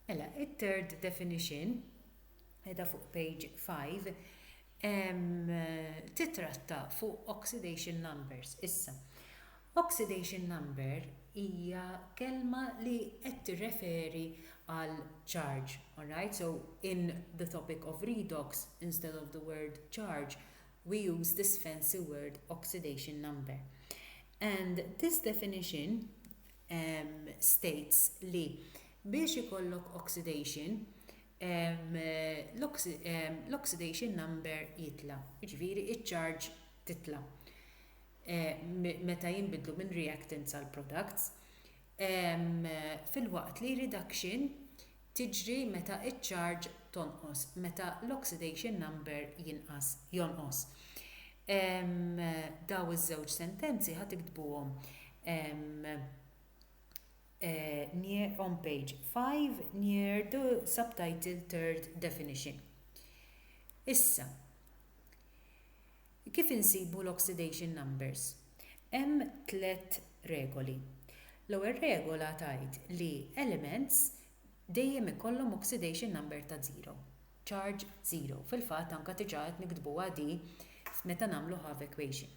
Mela, it-third definition, qiegħda fuq page five, titratta fuq oxidation numbers. Issa, oxidation number hija kelma li qed tirreferi għal charge, alright? So, in the topic of redox, instead of the word charge, we use this fancy word oxidation number. And this definition states li biex ikollok oxidation l-oxidation number jitla', jiġifieri ċ-charge titla' meta jinbidlu minn reactants għal products, filwaqt li reduction tiġri meta ċ-charge tonqos, meta l-oxidation number jinqas, jonqos. Dawn iż-żewġ sentenzi ħa tiktbuhom on page five near the subtitle third definition. Issa, Kif insibu l-oxidation numbers? Hemm tliet regoli. L-ewwel regola tgħid li elements dejjem ikollhom oxidation number ta' zero, charge zero. Fil-fatt anke diġà qed niktbuha di meta nagħmlu half equation.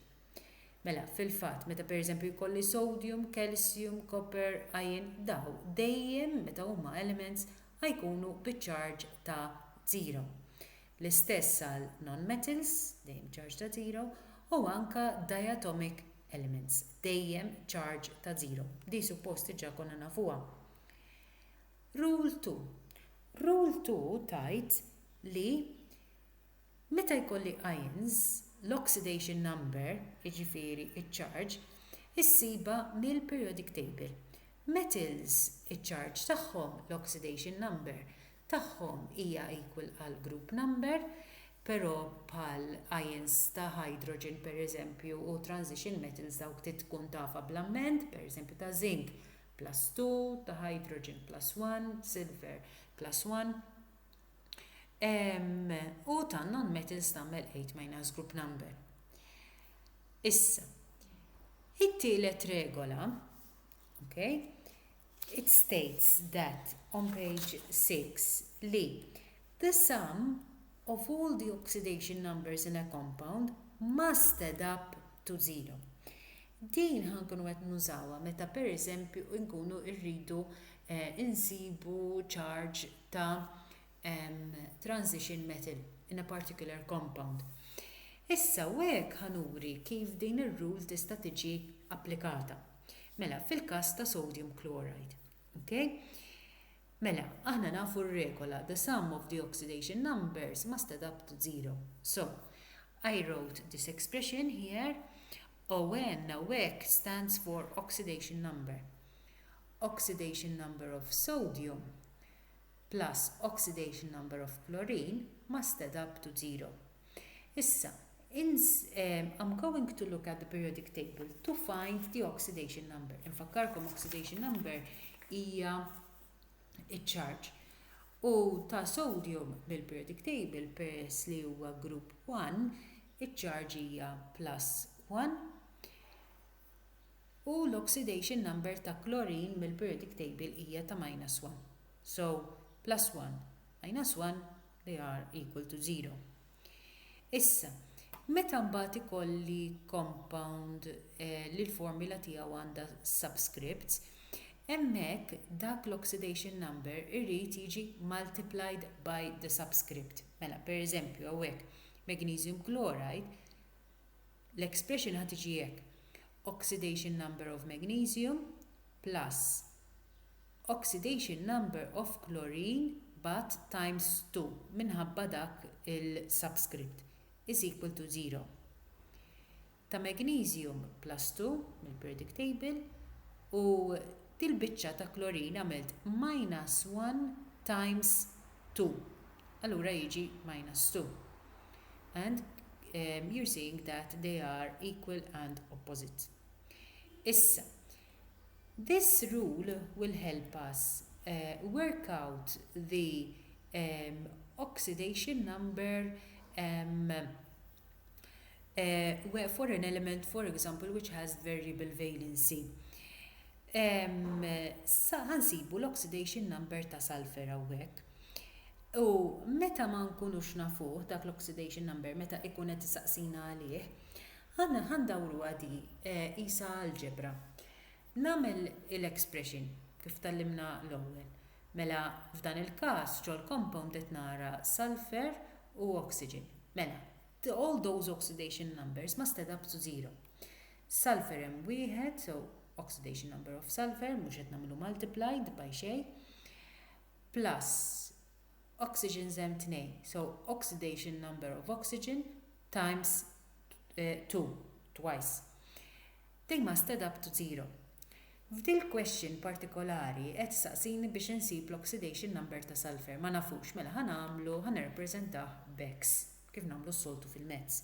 Mela, fil-fatt, meta pereżempju jkolli sodium, calcium, copper, iron, dawn dejjem meta huma elements ħajkunu bi charge ta' zero. L-istess għal nonmetals, dejjem charge ta' żero, u anke diatomic elements, dejjem charge ta' żero. Din suppost diġà konna nafuha. Rule two. Rule two tgħid li meta jkolli ions, l-oxidation number, jiġifieri ċ-charge, issibha mill-periodic table. Metals, iċ-charge tagħhom, l-oxidation number, tagħhom hija equal għall-group number, però bħal ions ta' hydrogen pereżempju u transition metals dawk trid tkun tafha bl-amment, pereżempju ta' zinc plus 2, ta' hydrogen plus 1, silver plus 1, ehm, u ta' non-metals tagħmel 8 minus group number. Issa, it-tielet regola, okay, It states that on page six li the sum of all the oxidation numbers in a compound must add up to zero. Din ħa nkunu qed nużawha meta pereżempju nkunu rridu nsibu charge ta' transition metal in a particular compound. Issa u hekk ħa nuri kif din ir-rule tista' tiġi applikata. Mela, fil-każ ta' sodium chloride. Okay? Mela, aħna nafu r-regola, the sum of the oxidation numbers must add up to zero. So, I wrote this expression here, ON u hekk stands for oxidation number. Oxidation number of sodium plus oxidation number of chlorine must add up to zero. Issa, ins, ehm, I'm going to look at the periodic table to find the oxidation number. Infakkarkom oxidation number hija iċ-charge. U ta' sodium bil-periodic table peress li huwa group 1, iċ-charge hija plus 1. U l-oxidation number ta' chlorine mill-periodic table hija ta' minus 1. So, plus 1 minus 1 li r equal to 0. Issa, meta mbagħad ikolli compound eh, li l-formula tiegħu għandha subscripts, hemmhekk dak l-oxidation number irrid jiġi multiplied by the subscript. Mela, per eżempju, hawnhekk magnesium chloride, l-expression ħad tiġi hekk. Oxidation number of magnesium plus oxidation number of chlorine but times 2 minħabba dak il-subscript is equal to 0 ta' magnesium plus 2 mill-periodic table u dil-biċċa ta' chlorine għamilt minus 1 times 2 allura jiġi minus 2 and you're seeing that they are equal and opposite. Issa, This rule will help us work out the oxidation number for an element for example which has variable valency. Sa ħa nsibu l-oxidation number ta' sulphur hawnhekk. U meta ma nkunux nafuh dak l-oxidation number meta ikun qed isaqsina għalih, Ħa ndawruha di, qisha alġebra. Nagħmel il-expression kif tgħallimna l-ewwel. Mela f'dan il-każ ġol-compound qed nara sulphur u oxygen. Mela, all those oxidation numbers must add up to zero. Sulphur hemm wieħed, so oxidation number of sulphur, mhux qed nagħmlu multiplied by xejn, plus oxygens hemm tnejn, so oxidation number of oxygen, times two, twice, they must add up to zero. F'dil-question partikolari qed ssaqsini biex insib l-oxidation number ta' sulphur. Ma nafux, mela ħa nagħmlu, ħa nirrappreżentah b'X, kif nagħmlu s-soltu fil-mezz.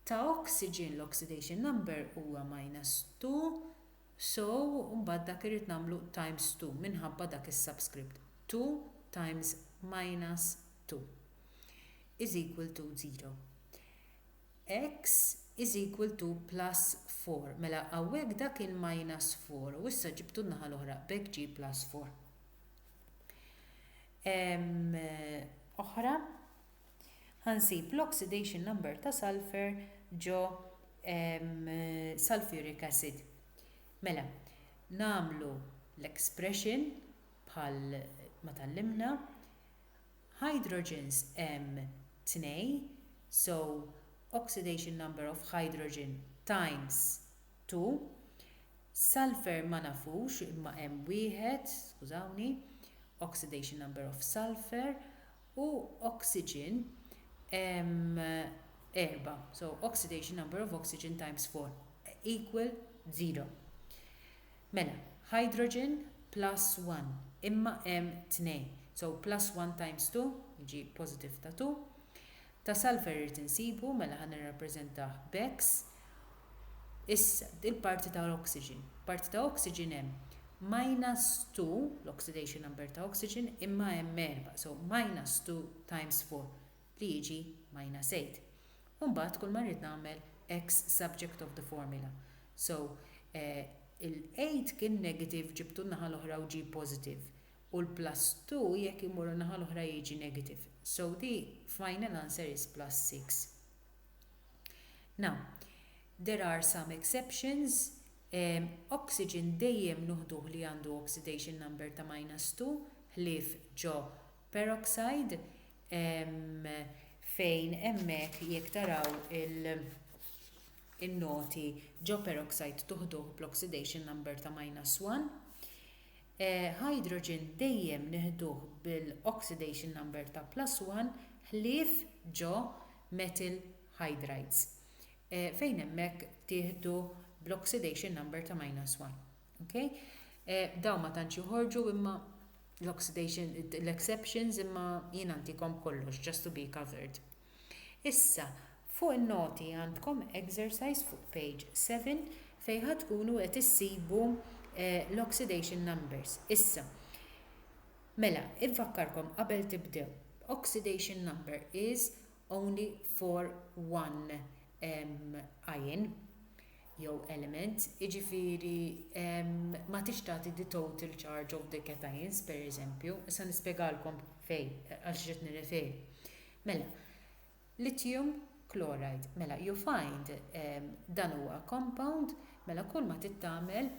Ta' oxygen l-oxidation number huwa minus two, so mbagħad dak irrid nagħmlu times two minħabba dak is-subscript, two times minus two. 0 X = +4 Mela hawnhekk dak kien -4 u issa ġibtu n-naħa l-oħra b'hekk ġie +4. Ehm oħra Ħa nsib l-oxidation number ta' sulphur ġo ehm sulphuric acid. Mela, nagħmlu l-expression bħal ma tgħallimna Hydrogens hemm tnejn, so oxidation number of hydrogen times two. Sulfur ma nafux imma hemm wieħed, skużawni, oxidation number of sulfur, u oxygen hemm erba', so oxidation number of oxygen times four equal zero. Mela, hydrogen plus one, imma hemm tnejn, so plus one times two, jiġi positive ta' two, ta' sulfur irrid insibu, mela ħa nirrappreżentah b'X. Issa, il-parti ta' l-oxygen. Parti ta' oxygen hemm minus two, l-oxidation number ta' oxygen, imma hemm erbgħa, so minus two times four, li jiġi Majna Sejd. U mbagħad kull ma rrid nagħmel ex subject of the formula. So, il-8 kien negative ġibtu n-naħa l-oħra u ġie positive. U l-plus 2 jekk immorru n-naħa l-oħra jiġi negative. So the final answer is plus 6. Now, there are some exceptions, oxygen dejjem nuħduh li għandu oxidation number ta' minus 2, ħlief ġo peroxide, fejn hemmhekk jekk taraw in-noti ġo peroxide tuħduh bl-oxidation number ta' minus 1. Hydrogen dejjem nieħduh bil-oxidation number ta' plus 1 ħlief ġo methyl hydrides fejn hemmhekk tieħdu bl-oxidation number ta' minus 1. Okay? Eh, daw ma tantx joħorġu imma l-oxidation, l-exceptions imma jien għantikom kollox just to be covered. Issa, fuq il-noti għandkom exercise fuq page 7 fejħa tkunu qed issibu eh, l-oxidation numbers. Issa, mela, infakkarkom qabel tibdew, oxidation number is only for one um, ion. jew element, jiġifieri ma tridx tagħti the total charge of the cations, pereżempju, issa nispjegalkom fejn, għal x'qed nirreferi. Mela, lithium chloride, mela you find dan huwa compound, mela kull ma trid tagħmel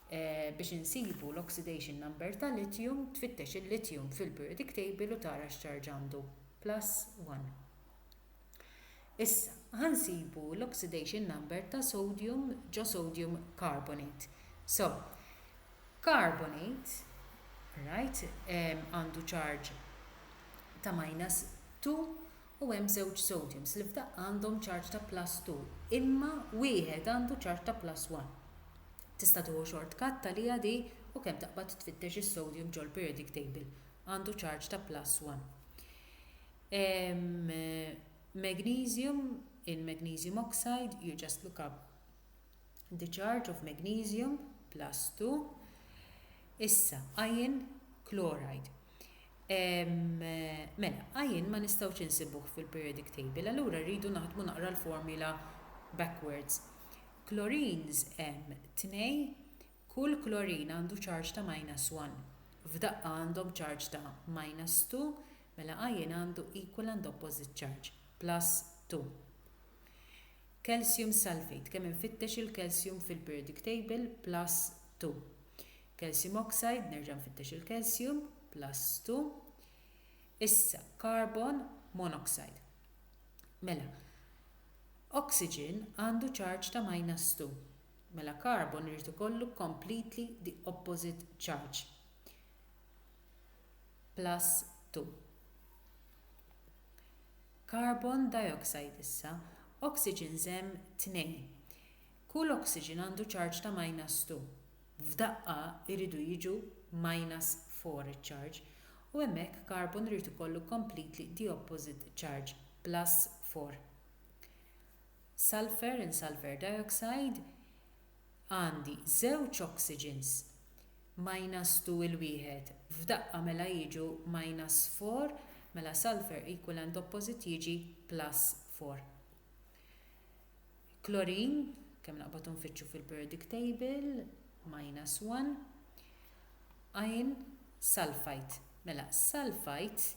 biex insibu l-oxidation number ta' lithium tfittex il-lithium fil-periodic table u tara x'charge għandu, plus one. Issa, ħa nsibu l-oxidation number ta' sodium ġo sodium carbonate. So, carbonate, right, għandu charge ta' minus 2 u hemm żewġ sodiums li f'daqqa għandhom charge ta' plus 2, imma wieħed għandu charge ta' plus 1. Tista' tieħu short cut għaliha di u kemm taqbad tfittex is-sodium ġol-periodic table, għandu charge ta' plus 1. Magnesium in magnesium oxide, you just look up the charge of magnesium plus 2. Issa, iron chloride. Mela, iron ma nistgħux insibuh fil-periodic table, allura rridu naħdmu naqra l-formula backwards. Chlorines hemm tnej, Kull klorin għandu ċarġ ta' minus one. F'daqqa għandhom ċarġ ta' minus two, mela ion għandu equal and opposite charge, plus two. Calcium sulfate, kemm infittex il-calcium fil-periodic table, plus two. Calcium oxide, nerġa' nfittex il-calcium, plus two. Issa, carbon monoxide. Mela, oxygen għandu ċarġ ta' minus two. mela carbon irid ikollu completely the opposite charge, plus 2. Carbon dioxide issa, oxygen żemm 2. Kull oxygen għandu charge ta' minus 2. F'daqqa jridu jiġu minus 4 iċ-charge, u hemmhekk carbon irid ikollu completely the opposite charge, plus 4. sulphur in sulphur dioxide, għandi żewġ oxygens minus 2 il wieħed f'daqqa mela jiġu minus 4 mela sulphur equilant opposite jiġi plus 4. Klorin, kemm naqbad u nfittxu fil-periodic table, minus 1. Iron sulphite, mela sulphite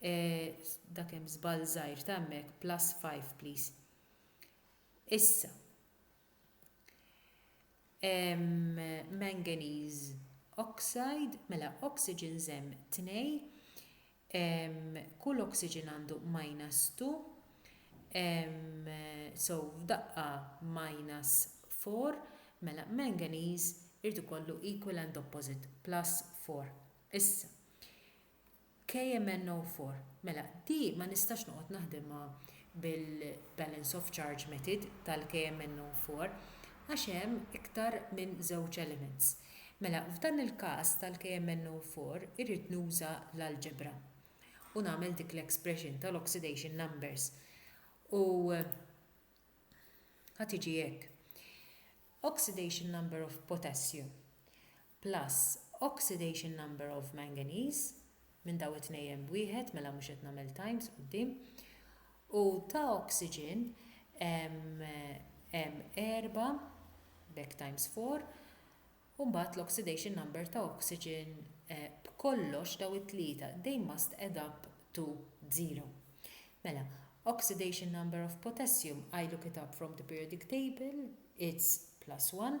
Eehh dak hemm żball żgħir ta' hemmhekk plus five please. Issa hemm manganese oxide, mela oxygens hemm tnejn, kull oxygen għandu minus two, so f'daqqa minus four, mela manganese irid ikollu equal and opposite, plus four. Issa, KMNO4, Mela, di ma nistax noqgħod naħdimha bil-balance of charge method tal-KMNO4 għax hemm iktar minn żewġ elements. Mela, f'dan il-każ tal-KMNO4 irrid nuża l-algebra u nagħmel dik l-expression tal-oxidation numbers u ħa tiġi hekk, oxidation number of potassium plus oxidation number of manganese minn dawn it-tnejn b'wieħed, mela mhux qed nagħmel times quddiem, u ta' oxygen hemm erbgħa, b'hekk times four, u mbagħad l-oxidation number ta' oxygen b'kollox dawn it-tlieta, they must add up to zero. Mela, oxidation number of potassium, I look it up from the periodic table, it's plus one,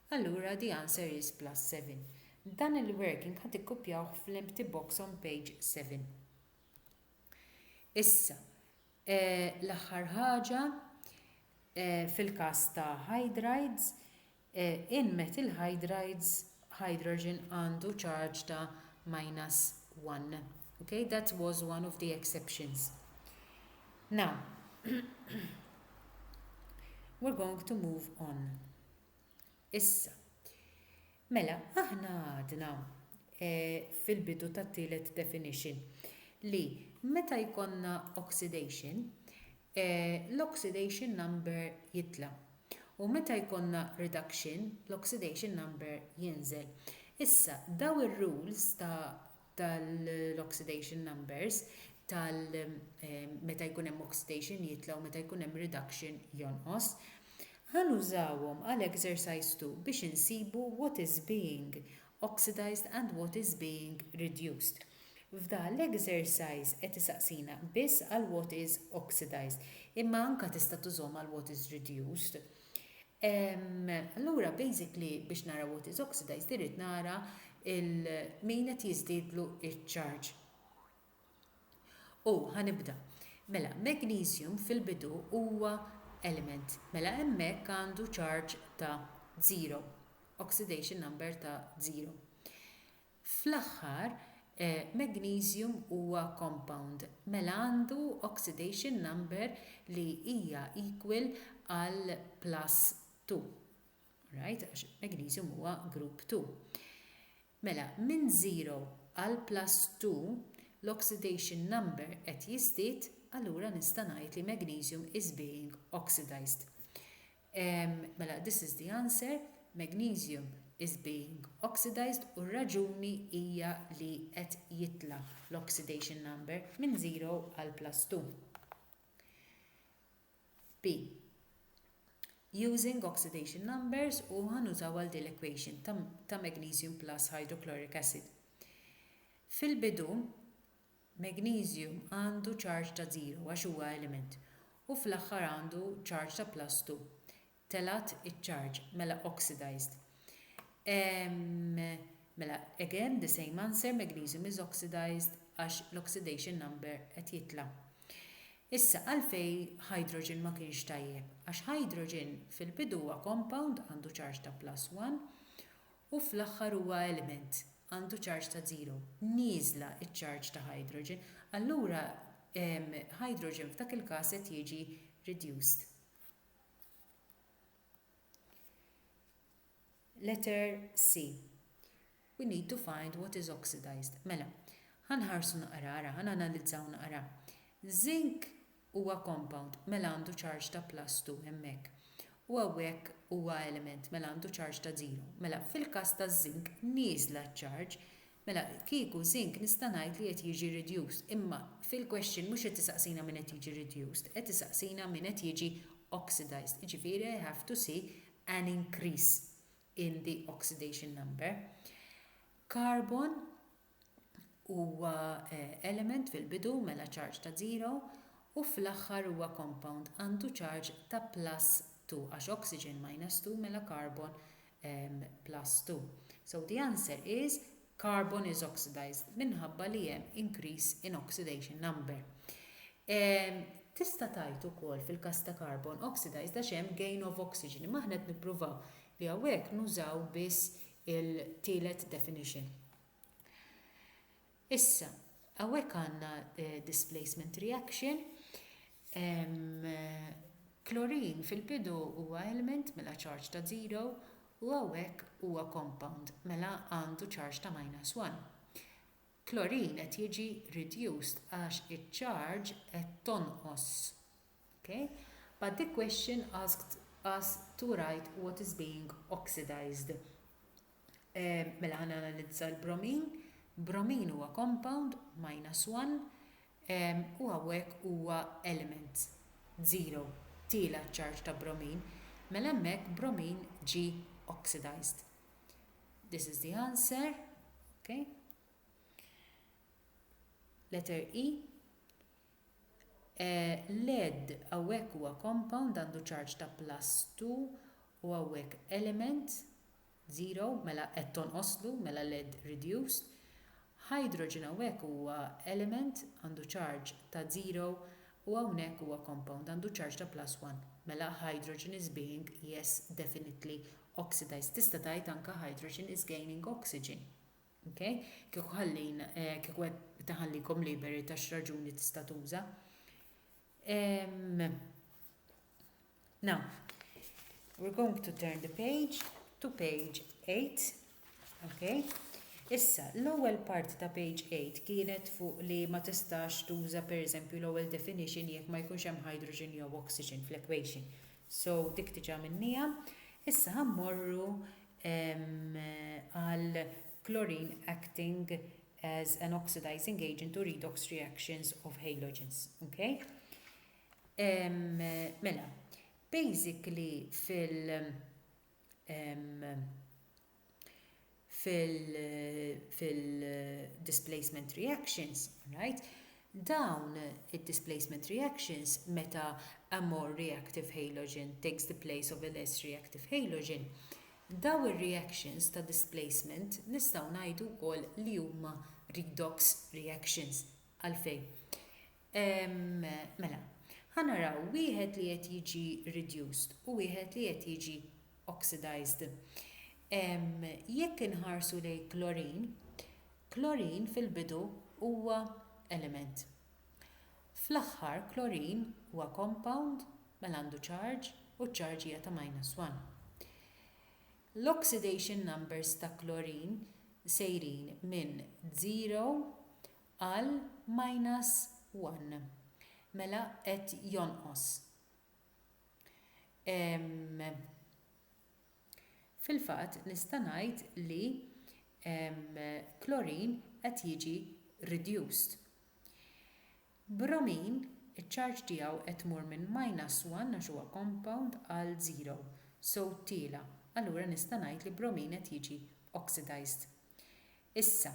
Allura the answer is plus 7. Dan il-working ħa tikkupjawh fl-empty box on page 7. Issa, l-aħħar ħaġa, fil-każ ta' hydrides, in methyl hydrides hydrogen għandu charge ta' minus 1. Ok, that was one of the exceptions. Now, we're going to move on. Issa, mela, aħna għadna fil-bidu tat-tielet definition li meta jkollna oxidation, l-oxidation number jitla', u meta jkollna reduction, l-oxidation number jinżel. Issa, dawn ir-rules ta' tal-oxidation numbers tal meta jkun hemm oxidation jitla' u meta jkun hemm reduction jonqos. Ħa nużawhom għal exercise 2 biex insibu what is being oxidised and what is being reduced. F'dan l-exercise qed isaqsina biss għal what is oxidised imma anka tista' tużhom għal what is reduced. Ehm, allura basically biex nara what is oxidized irrid nara il min qed jiżdiedlu iċ-charge. U ħanibda. Mela, magnesium fil-bidu huwa element. Mela hemmhekk għandu charge ta' 0, oxidation number ta' 0. Fl-aħħar, magnesium huwa compound, mela għandu oxidation number li hija equal għal plus two. Alright? Għax magnesium huwa group two. Mela, minn zero għal plus two, l-oxidation number qed jiżdied, allura nista' ngħid li magnesium is being oxidized. Mela this is the answer, magnesium is being oxidized u r-raġuni hija li qed jitla' l-oxidation number minn 0 għal plus 2. B. Using oxidation numbers u ħa nużaw għal din l-equation ta' magnesium plus hydrochloric acid. Fil-bidu Magnesium għandu ċarġ ta' żero għax huwa element, u fl-aħħar għandu ċarġ ta' plus two. Telgħat iċ-ċarġ, mela oxidized. Ehm, mela again the same answer, magnesium is oxidized għax l-oxidation number qed jitla'. Issa għalfejn hydrogen ma kienx tajjeb? Għax hydrogen fil-bidu huwa compound għandu ċarġ ta' plus one u fl-aħħar huwa element għandu ċarġ ta' żero, nieżla ċ-ċarġ ta' hydrogen, allura hydrogen f'dak il-każ qed jiġi reduced. Letter C. We need to find what is oxidized. Mela, ħanħarsu naqra, ara, ħananalizzaw naqra. Zinc huwa compound mela għandu charge ta' plus two hemmhekk u hawnhekk huwa element mela għandu charge ta' zero. Mela fil-każ taż-żink nieżla ċ-charge mela kieku żink nista' ngħid li qed jiġi reduced imma fil-question mhux qed isaqsina min qed jiġi reduced qed isaqsina min qed jiġi oxidised jiġifieri i have to see an increase in the oxidation number. Carbon huwa element fil-bidu mela ċarġ ta' zero u fl-aħħar huwa compound għandu ċarġ ta' plus two għax oxygen minus two mela carbon plus two so the answer is carbon is oxidised minħabba li hemm increase in oxidation number. Tista' tgħid ukoll fil-każ ta' carbon oxidised għax hemm gain of oxygen imma aħna qed nippruvaw li hawnhekk nużaw biss il-tielet definition. Issa, hawnhekk għandna displacement reaction. Klorin fil-bidu huwa element mela ċarġ ta' zero u hawnhekk huwa compound mela għandu ċarġ ta' minus one. Klorin qed jiġi reduced għax iċ-ċarġ qed tonqos. Okay? But the question asked us to write what is being oxidized. Mela ħa nanalizza l-bromin. Bromin huwa compound, minus one, u hawnhekk huwa element, zero, tiela' ċ-charge ta' bromin, mela hemmhekk bromin ġie oxidized. This is the answer. Okay? Letter E. Lead hawnhekk huwa compound għandu charge ta' plus two u hawnhekk element, zero, mela qed tonqoslu, mela lead reduced. Hydrogen hawnhekk huwa element għandu charge ta' zero u hawnhekk huwa compound għandu charge ta' plus one, mela hydrogen is being, yes, definitely, oxidized. Tista' tgħid anke hydrogen is gaining oxygen. Ok? Kieku ħallin, kieku qed taħallikom liberi ta' x'raġuni tista' tuża. Now, we're going to turn the page to page 8. Okay? Issa, l-ewwel parti ta' page 8 kienet fuq li ma tistax tuża pereżempju l-ewwel definition jekk ma jkunx hemm hydrogen jew oxygen fl-equation. So dik diġa għamilnieha. Issa ħa mmorru għal chlorine acting as an oxidizing agent u redox reactions of halogens. Okay? Mela, basically fil- fil-displacement reactions, right, dawn id-displacement reactions meta a more reactive halogen takes the place of a less reactive halogen, dawn ir-reactions ta' displacement nistgħu ngħidu wkoll li huma redox reactions. Għalfejn? Mela, ħa naraw wieħed li qed jiġi reduced u wieħed li qed jiġi oxidized. Jekk inħarsu lejn klorin, klorin fil-bidu huwa element. Fl-aħħar klorin huwa compound mela għandu charge u ċ-charge hija ta' minus one. L-oxidation numbers ta' klorin sejrin minn zero Għal minus one. Mela qed jonqos. Ehm, Fil-fatt nista' ngħid li ehm, klorin qed jiġi reduced. Bromin, iċ-charge tiegħu qed tmur minn minus one għax huwa compound għal zero, so tiela', allura nista' ngħid li bromin qed jiġi oxidized. Issa,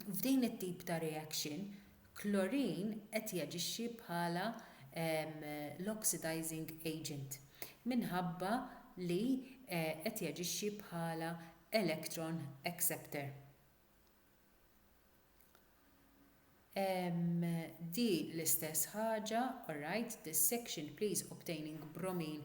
F'din it-tip ta' reaction, klorin qed jaġixxi bħala l-oxidizing agent minħabba li qed jaġixxi bħala electron acceptor. Din l-istess ħaġa, alright, dissection please obtaining bromine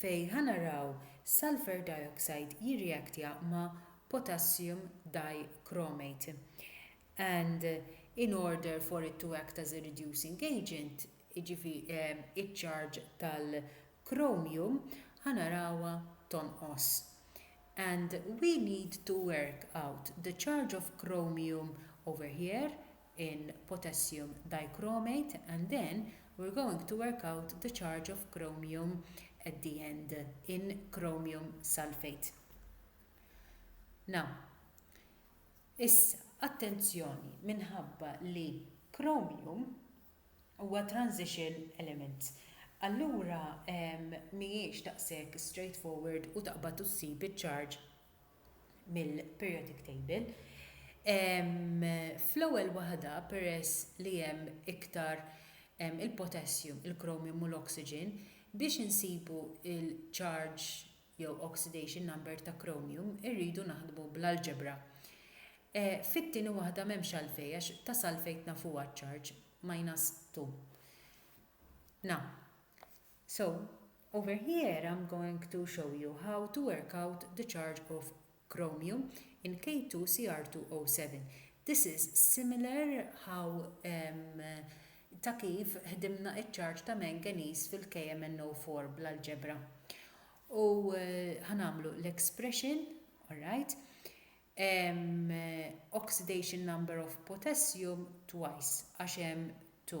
fejn ħa naraw sulphur dioxide jirreactja ma' potassium dichromate and in order for it to act as a reducing agent jiġifieri ċ-charge tal-chromium ħa narawha tonqos and we need to work out the charge of chromium over here in potassium dichromate and then we're going to work out the charge of chromium at the end in chromium sulphate. Now, issa, attenzjoni minħabba li chromium huwa transition element, allura mhijiex daqshekk straightforward u taqbad u ssib iċ-charge mill-periodic table. Fl-ewwel waħda peress li hemm iktar il-potassium, il-chromium u l-oxygen, biex insibu l-charge jew oxidation number ta' chromium irridu naħdmu bl-algebra. Fit-tieni waħda m'hemmx għalfejn għax ta' sulphate nafuha ċ-charge, minus 2. Na. So, over here I'm going to show you how to work out the charge of chromium in K2CR2O7. This is similar how um, ta' kif ħdimna iċ-charge ta' manganese fil-KMNO4 bl-algebra. U ħanamlu eh, l-expression, alright, um, oxidation number of potassium twice, għax hemm 2.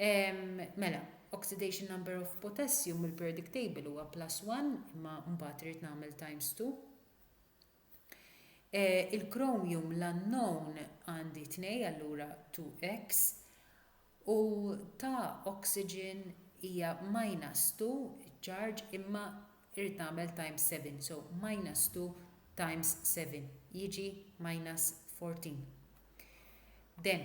Mela, oxidation number of potassium mill-periodic table huwa plus one, imma mbagħad irrid nagħmel times two. Il-chromium l-unknown għandi tnej allura 2x u ta' oxygen hija minus 2 charge imma irrid nagħmel times 7 so minus 2 times 7 jiġi minus 14. Then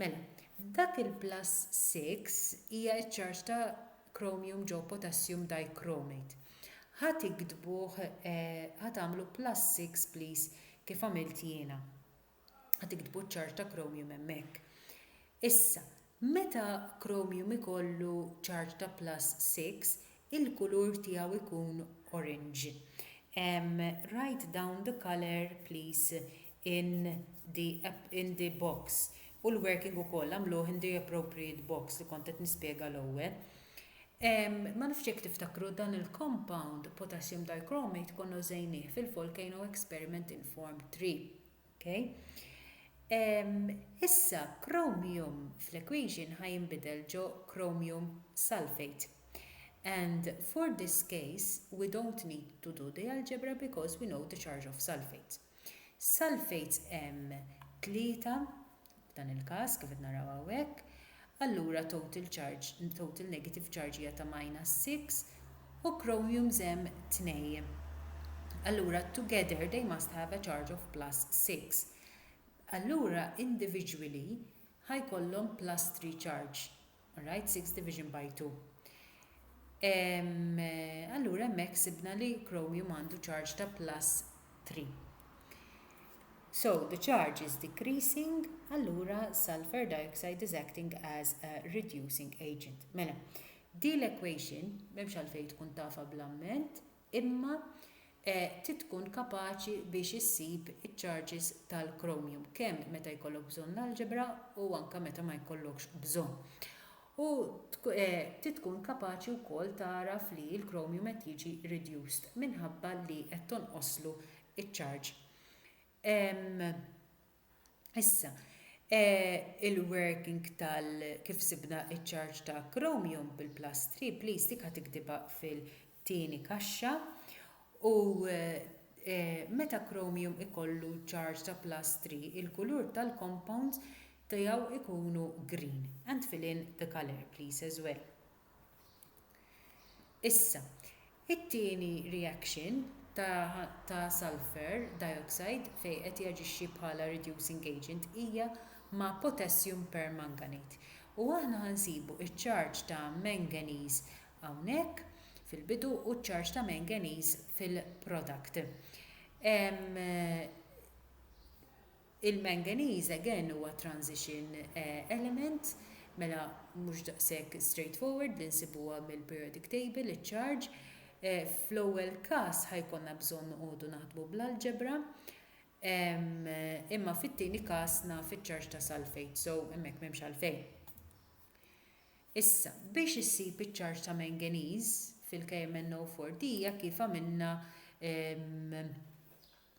Mela, f'dak il-plus six hija ċ-charge ta' chromium ġo potassium dichromate. Ħa tiktbuh, ħa tagħmlu plus six please kif għamilt jiena. Ħa tiktbu ċ-charge ta' chromium hemmhekk. Issa, meta chromium ikollu charge ta' plus six, il-kulur tiegħu jkun orange. Write down the colour please in the app in the box u l-working ukoll għamluh in the appropriate box li kont qed nispjega l-ewwel. Ma nafx jekk tiftakru dan il-compound potassium dichromate konna użejnieh fil-volcano experiment in form 3. Okay? Issa chromium fl-equation ħa jinbidel ġo chromium sulfate. And for this case, we don't need to do the algebra because we know the charge of sulfates. Sulfates hemm tlieta f'dan il-każ kif qed naraw hawnhekk. Allura total charge, total negative charge hija ta' minus 6 u chromiums hemm tnej. Allura together they must have a charge of plus 6. Allura individually ħa jkollhom plus 3 charge. All right, sixth division by two. Allura hemmhekk sibna li chromium għandu charge ta' plus 3. So the charge is decreasing, allura sulfur dioxide is acting as a reducing agent. Mela, di l-equation, memx għalfej tkun tafa bl-amment, imma trid tkun kapaċi biex issib iċ-charges tal-chromium kemm meta jkollok bżonn l-algebra u anke meta ma jkollokx bżonn. U trid tkun kapaċi wkoll tagħraf li l-chromium qed jiġi reduced minħabba li qed tonqoslu ċ-charge. Issa, il-working tal kif sibna ċ-charge ta' chromium bil-plus 3, please dik ħa tiktibha fil-tieni kaxxa, u meta chromium ikollu charge ta' plus 3 il-kulur tal-compounds tiegħu jkunu green and fill in the colour please as well. Issa, it-tieni reaction ta' sulphur dioxide fejn qed jaġixxi bħala reducing agent hija ma' potassium permanganate. U aħna ħa nsibu ċ-charge ta' manganese hawnhekk fil-bidu u ċ-charge ta' manganese fil-product. Il-manganese again huwa transition element, mela mhux daqshekk straightforward li nsibuha mill-periodic table iċ-charge. Fl-ewwel każ ħa jkollna bżonn noqogħdu naħdmu bl-algebra, imma fit-tieni każ naf iċ-charge ta' sulfate, so hemmhekk m'hemmx għalfejn. Issa, biex issib iċ-charge ta' manganese fil-KMnO4 dija kif għamilna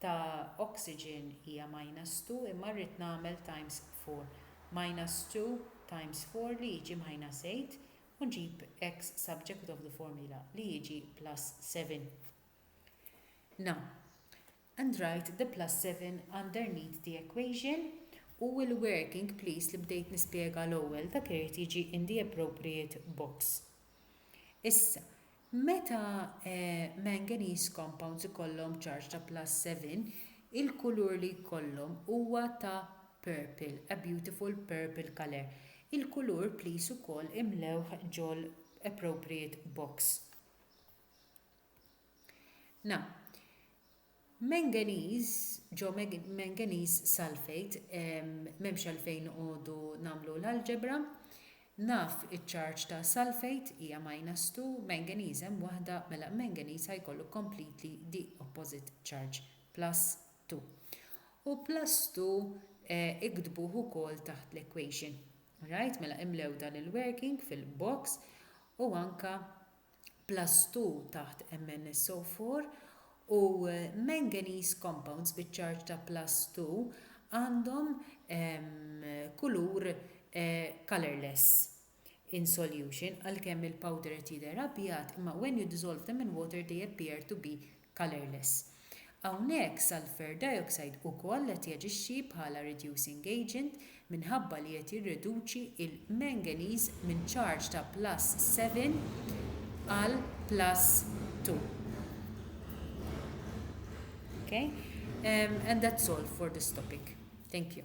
ta' oxygen hija minus two imma rrid nagħmel times four. Minus two times four li jiġi minus eight u nġib x subject of the formula li jiġi plus seven. Now, and write the plus seven underneath the equation u l-working please li bdejt nispjega l-ewwel dak irid jiġi in the appropriate box. Issa, meta manganese compounds ikollhom ċarġ ta' plus 7, il-kulur li jkollhom huwa ta' purple, a beautiful purple colour. Il-kulur please ukoll imlewh ġol appropriate box. Now, Manganese, ġo manganese sulfate, m'hemmx għalfejn noqogħdu nagħmlu l-algebra. Naf iċ-charge ta' sulfate hija minus two, manganese hemm waħda, mela manganese ħa jkollu completely the opposite charge, plus two. U plus two iktbuh ukoll taħt l-equation. All right, mela imlew dan il-working fil-box u anke plastu taħt MnSO4 u manganese compounds biċ-ċarġ ta' plastu għandhom kulur colourless in solution, għalkemm il-powder qed jidher abjad imma when you dissolve them in water they appear to be colourless. Hawnhekk sulphur dioxide ukoll qed jaġixxi bħala reducing agent minħabba li qed jirreduċi l-manganese minn charge ta' plus seven għal plus two. Okay? Um, and that's all for this topic. Thank you.